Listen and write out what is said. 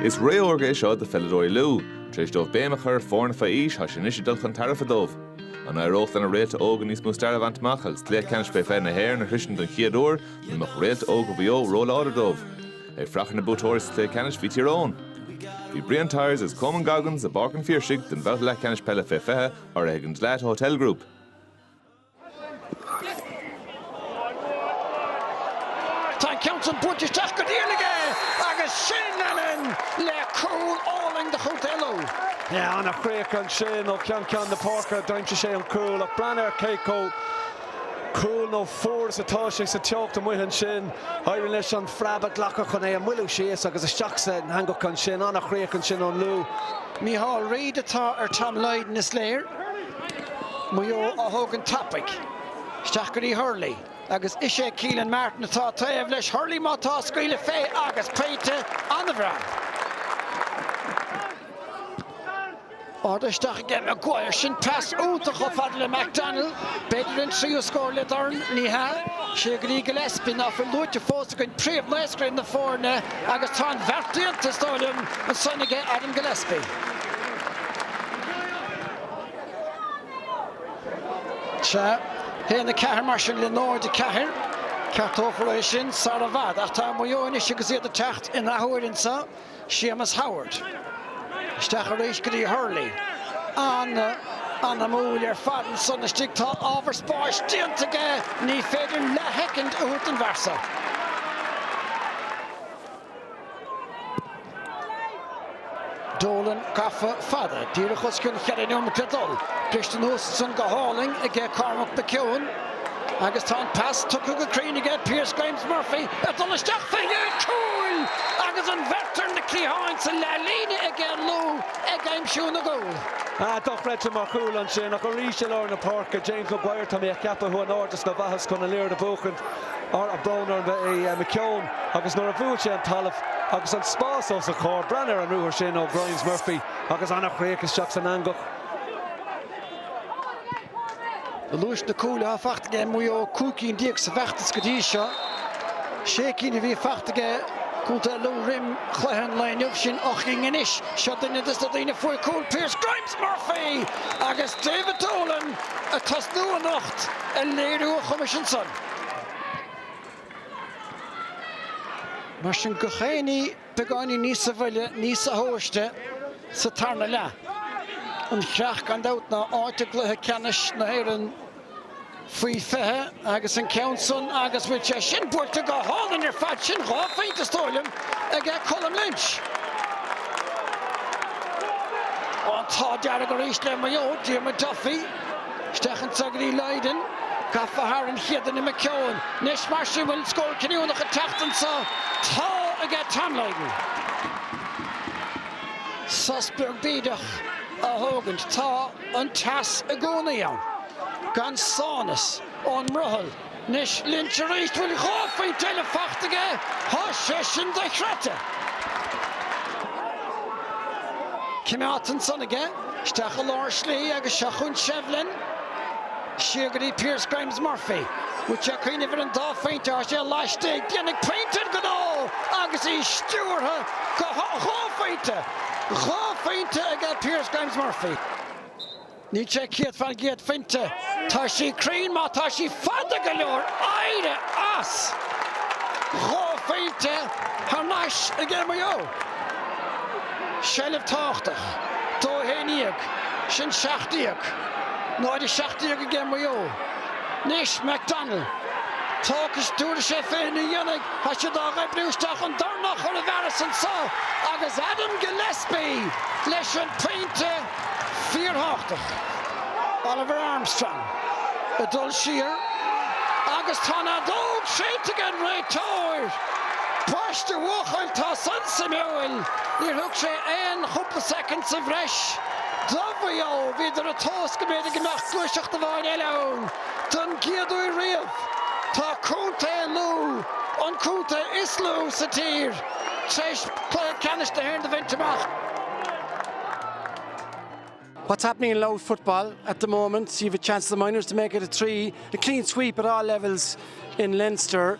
Is ré órga é seo do pheileadóirí Lú. Tar éis dóibh béim a chur ar foirne faoi aois, tá sé anois ag dul chun tairbhe dóibh. An éireodh lena réalta óga níos mó staire a bhaint amach agus Cluiche Ceannais Fé 20 na hÉireann a shroisint don chéad uair nó an mbeadh réalta óga Mhaigh Eo róláidir dóibh? Ag fuireach ar na buaiteoirí sa chluiche ceannais bhí Tír Eoghain. Bhí Brian Tyers agus Coman Goggins i bPáirc an Phiarsaigh don bhabhta leathcheannais peile fé 20, urraithe ag an Dalata Hotel Group. Tá an ceann san buailte isteach go dian aige agus sin Lennon le cúl álainn do Chontae Lú. Ana chríoch ansin ó cheann ceann na páirce a d'aimsigh sé an cúl ach breathnaigh ar cé chomh cool nó fuar is atá sé sa teocht amuigh ansin. Éiríonn leis an phreab a ghlacadh chun é a mhoilliú síos agus isteach san eangach ansin. Ana chríoch ansin ón Lú. Mícheál Reid atá ar Tom Lydon is léir. Maigh Eo á thógaint tapaidh isteach go dtí Hurley agus is é Keelan Martin atá taobh leis. Hurley má tá ag scaoileadh fé agus pointe an-bhreá. Ardú isteach aige Maguire. Sin pas iontach chomh fada le McDonnell. B'fhéidir an tríú scór le dorn? Ní hea. Siar go dtí Gillespie, ná fuil luaite fós againn, príomh-naoscaire na foirne agus tá an bheart déanta, is dóigh liom, ansan aige Adam Gillespie. 1, 4, mar sin, le 0, 4. Ceartófar é sin sara i bhfad, ach tá Maigh Eo anois agus iad ag teacht in athuair anseo, Séamus Howard. Isteach arís go dtí Hurley. An-anamúil ar fad ansan istigh. Tá ábhar spáis déanta aige, ní féidir leathshoicind a thabhairt don bhfear so. Dolan gafa fada díreach os cionn cheithre nóiméad dul briste anuas ansan go hálainn aige Cormac McKeown agus tá an pas tugtha go cruinn aige Pearse Grimes Murphy ag dul isteach faoi dhéin cúil agus an bheirt ar na cliatháin sa leath líne aige Lú ag aimsiú na gcúl. Ah, dochreidte mar chúl ansin ach arís i lár na páirce James Maguire Tá mé ag ceapadh chuaigh in airde sna bhflaitheas chun an liathróid a bhuachaint Á tá brón orm ba é McKeown agus nuair a bhuail sé an talamh agus an spás os a chomhair, breathnaigh ar an ruathar sin ó Grimes Murphy agus an-chríoch isteach san eangach. Do luas na cúil atá fachta aige Maigh Eo cúig cinn déag sa bhfeachtas go dtí seo. Sé cinn a bhí fachta aige Contae Lú roim chluiche an lae inniu, sin ocht gcinn anois. Seo duine de na daoine a fuair cúl, Pearse Grimes! Murphy agus David Dolan ag tosnú anocht ag léiriú a chumais ansan. Mar sin gach éinne beagáinín níosa mhoille, níosa thomhaiste, sa tarna leath. An chreach gan dabht ná áit i gcluiche ceannais na hÉireann. faoi fiche agus an ceann san agus bhfuil sé sin buailte go hálainn ar fad sin dhá phointe, is dóigh liom, aige Colm Lynch. An t-ádh dearg arís le Maigh Eo, Diarmuid Duffy isteach anso go dtí Lydon, gafa thar an chéad duine McKeown. Anois mar sin, bhfuil an scór cinniúnach ag teacht anso? Tá, aige Tom Lydon. Sos beag bídeach á thógaint. Tá. an teas i gcónaí ann, gan sámhnas ón mbrothall. Anois Lynch aríst, bhfuil dhá phointe eile fachta aige, thá sé sin dochreidte. Cimeádta ansan aige, isteach i lár slí agus seo chúinn Shevlin siar go dtí Pearse Grimes Murphy. Bhfuil sé ag cuimhneamh ar an dá phointe, thá sé laistigh, déanfaidh pointe an gnó agus í stiúrtha go dhá phointe. Dhá phointe aige Pearse Grimes Murphy. Níl sé céad fán gcéad fuinte. Tá sí cruinn má tá sí fada go leor. Éirigh as! Dhá phointe thar n-ais aige Maigh Eo. Seilbh tábhachtach. Dó a haon dhéag. Sin seacht déag. Náid a seacht déag aige Maigh Eo. Anois, McDonnell, toisc is dúradh sé féin a dhéanfaidh, tá siad á oibriú isteach an dornán a chur i bhfearas anso agus Adam Gillespie leis an pointe fíorthábhachtach. Oliver Armstrong ag dul siar agus tá an fheadóg séidte ag an réiteoir. Ambaist a bhuachaill, tá san suimiúil. Níor thug sé aon chúpla soicind sa bhreis. Do Mhaigh Eo, bhíodar ag tomhas go mb'fhéidir go mbeadh gluaiseacht amháin eile ann, don gcéad uair riamh. Tá Contae Lú, an contae is lú sa tír, tar éis cluiche ceannais na hÉireann a bhaint amach. What's happening in Louth football at the moment, you have a chance of the Minors to make it a three, a clean sweep at all levels in Leinster.